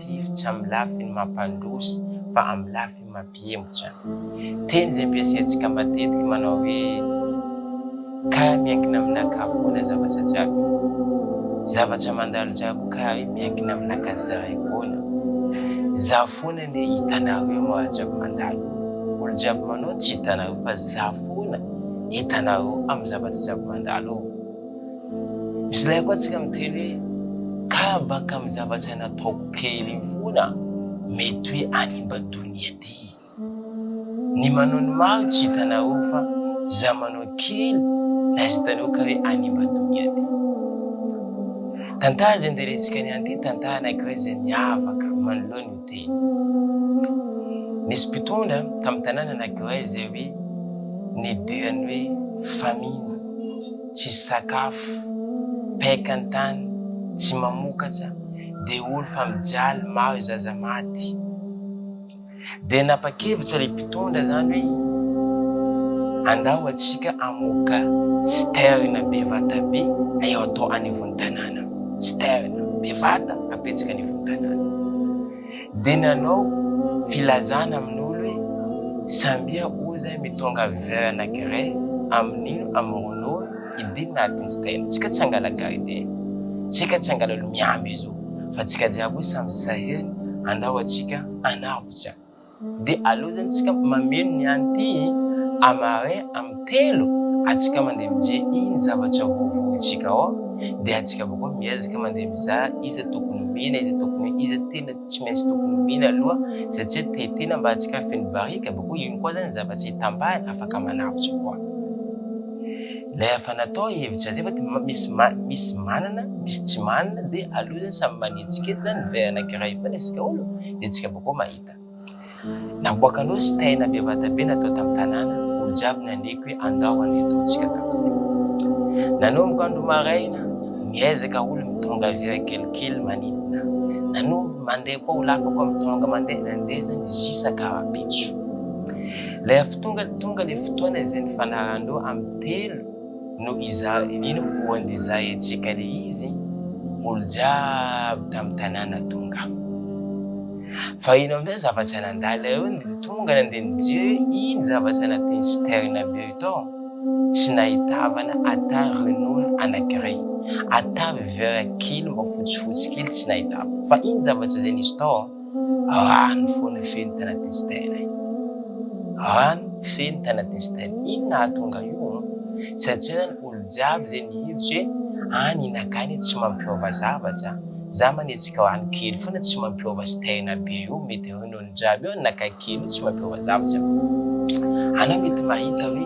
Tsiry tsy amin'ny lafiny mampandroso fa amin'ny lafiny mampihemotra. Teny izay ampiasaintsika matetika manao hoe Ka miankina aminakà foana zavatra jiaby. Zavatra mandalo jiaby ka hoe miankina aminakà zahay foana. Zaho foana anie hitanareo maha jiaby mandalo. Olo jiaby manao tsy hitanareo fa zaho foana hitanareo amin'ny zavatra jiaby mandalo. Misy lahy koa tsika miteny hoe kabaka amin'ny zava-tsaina ataoko kely iny foana, mety hoe hanimba donia ty. Ny manao ny maro tsy hitanareo fa za manao kely na tsy hitanareo ka hoe hanimba donia ty. Tantara izay ndelentsika niany ty, tantara anankiray izay miavaka manoloana io. teny. Nisy mpitondra tamin'ny tanàna anankiray izay hoe nidiran'ny hoe famine, tsisy sakafo, paika an-tany, tsy mamokatra, deholy fa mijaly, maro zaza maty. Dia napa-kevitra ilay mpitondra izany hoe andao atsika amoka citerne be vata be eo atao anivon'ny tanàna. Stern, bevata ampihetsika ny ivon'ny tanàna, dia nanao filazana amin'olo hoe sambia o zay mitônga vue anakiray amin'ino amorônô hidina atin'ny stern, tsika tsy hangala gardien, tsika tsy hangala olo miamby izy o, fa tsika jiaby o samy sahirana, andao atsika hanavotra dia aleo zany tsika mameno ny any ty a marin am telo atsika mandeha mije iny zavatra vovo itsika ao dia atsika boko miezaka mandeha miza iza tokony mena iza tokony iza tena tsy maintsy tokony mena aloha satsia te tena mba atsika feno barika boko iny koa zany zavatra itambahany afaka manavotra koa lay afa natao hevitra azy efa misy misy manana misy tsy manana dia aleo zany samy manetsiketo zany verana kiray fana isika olo dia atsika boko mahita Ejipta. Namoaka nosy taina be vatabe natao tamin'ny tanàna, olo jiaby nandriako hoe andao andeha ataontsika tamin'izay. Nanomboka andro maraina, miezaka olo mitondra vera kelikely manidina. Nanombo mandeha koa olo hafa koa mitondra mandeha nandezany zisa karapitso. Lefa tonga tonga le fotoana izay nifanarandreo amin'ny telo Noho izany indrindra moa dia zahintsika ilay izy, olo jiaby tamin'ny tanàna tonga. Fa ino amin'izay zavatra nandalo eo ny tonga nandeha nijery hoe ino zavatra anatin'ny citerne be io tao? Tsy nahitavana ata ronono anankiray, ata vera kely mba fotsifotsy kely tsy nahitavana. Fa ino zavatra izay nisy tao? Any fo ny feno tena testena e. Any feno tena testena. Ino nahatonga io? Satria zany olo jiaby zay nihevitra hoe any inaka any tsy mampiova zavatra. Za manetsika ho any kely foana tsy mampiova stena be io mety eo ny olo jiaby eo inaka kely io tsy mampiova zavatra. Anao mety mahita hoe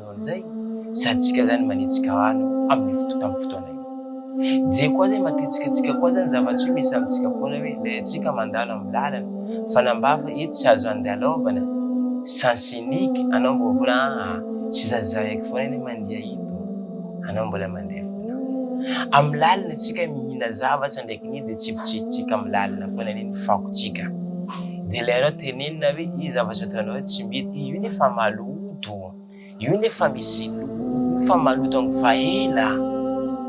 Manao an'izay, saintsika izany manetsika hany amin'ny fotoana amin'ny fotoana io. Dia koa izay matetika antsika koa izany zavatra io misy amintsika foana hoe ilay antsika mandalo amin'ny lalana, fanambafa etsy tsy azo andalaovana, sens unique, anao mbola foana aa, tsy zazahiko foana ilay mandeha ito, anao mbola mandeha foana. Amin'ny lalina antsika mihina zavatra ndraiky ny dia tsifotsifotsika amin'ny lalina foana anie ny fakontsika. Dia ilay anao tenenina hoe io zavatra ataonao io tsy mety, io anie fa maloto. Io ne fa misy loha fa maloto ny fa ela a!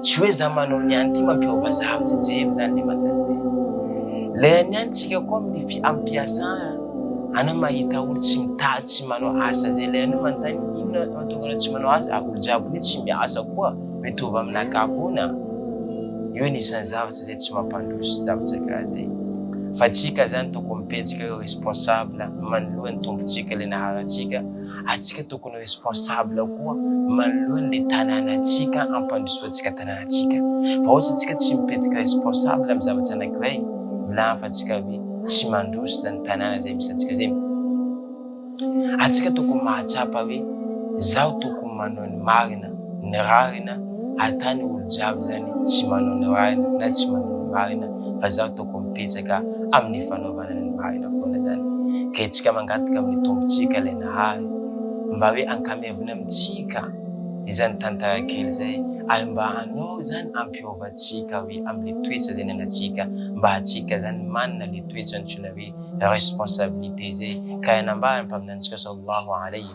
Tsy hoe za manao ny any ty mampiova zaho tsy tsehiko zany le maternité. Lay any any tsika koa amin'ny fi ampiasa a! Anao mahita olo tsy mitady tsy manao asa zay lay anao manontany inona mahatonga anao tsy manao asa a! Olo jiaby hoe tsy miasa koa mitovy aminakahy foana a! Io anisan'ny zavatra zay tsy mampandroso zavatra karaha zay. Fa tsika zany tokony mipetsika hoe responsable manoloan'ny tombontsika le naharantsika. atsika tokony responsable koa manoloany le tanàna atsika ampandrosoa atsika tanàna atsika fa ohatsy atsika tsy mipetika responsable am zavatra anakiray milahafa atsika hoe tsy mandroso zany tanàna zay misy atsika zay atsika tokony mahatsapa hoe zaho tokony manao ny marina ny rarina atany olo jiaby zany tsy manao ny rarina na tsy manao ny marina fa zaho tokony mipetsaka amin'ny fanaovana ny maha ela foana izany. Ka hetsika mangataka amin'ny tompontsika ilay nahay mba hoe ankamevony amintsika izany tantara kely izay ary mba hanao izany ampiovantsika hoe amin'ilay toetra izay nanantsika mba hatsika izany manana ilay toetra antsoina hoe responsabilité izay ka hanambara ny mpaminanintsika sallallahu alayhi